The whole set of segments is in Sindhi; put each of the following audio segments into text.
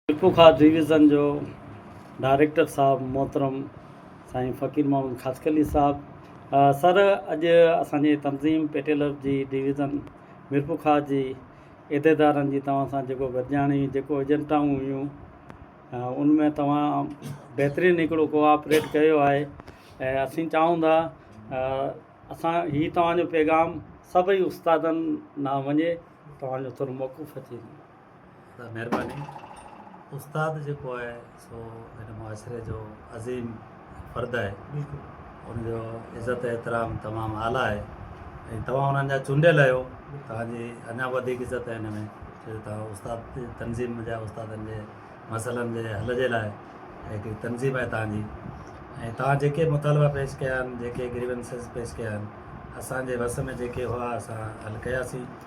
ٽپو خاص ڊويزن جو ڊائريڪٽر صاحب محترم سائين فقير محمد خاصخيلي صاحب سر اڄ اسانجي تنظيم پي ٽي لفظ جي ڊويزن ميرپور خاص جي عھديدارن جي توھان سان جيڪو گڏجاڻي جيڪو ايجنٽائون ھيون ان ۾ توھان بھترين ھڪڙو ڪوآپريٽ ڪيو آھي ۽ اسين چاھون ٿا اسان ھي توھان جو پيغام سڀئي استادن ڏانھن وڃي توھان جو ٿورو موقف اچي ته مهرباني استاد جيڪو آهي سو هن معاشري جو عظيم فرد آهي ان جو عزت احترام تمام اعليٰ آهي ۽ توهان انهن جا چونڊيل آهيو توهان جي اڃا وڌيڪ عزت آهي ان ۾ جو توهان استاد جي تنظيم جا استادن جي مسئلن جي حل جي لاء هڪڙي تنظيم آهي توهان جي ۽ توهان جيڪي مطالبا پيش ڪيا آهن جيڪي گريونسز پيش ڪيا آهن اسان جي وس ۾ جيڪي هئا اسان حل ڪياسين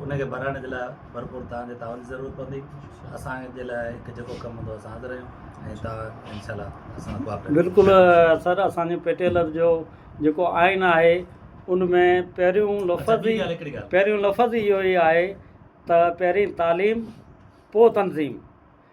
ان کي ڀرائڻ جي لاء ڀرپور توهان جي تعاون جي ضرورت پوندي اسان جي لاء هڪ جيڪو ڪم هوندو اسان حاضر آهيون ۽ توهان انشاء الله اسان ڪوآپريٽ بلڪل سر اسان جي پيٽيلر جو جيڪو آئين آهي ان ۾ پهريون لفظ ئي پهريون لفظ ئي اهو ئي آهي ته پهرين تعليم پوء تنظيم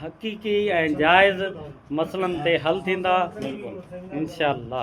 حقيقي ۽ جائز مسئلن تي حل ٿيندا انشاء الله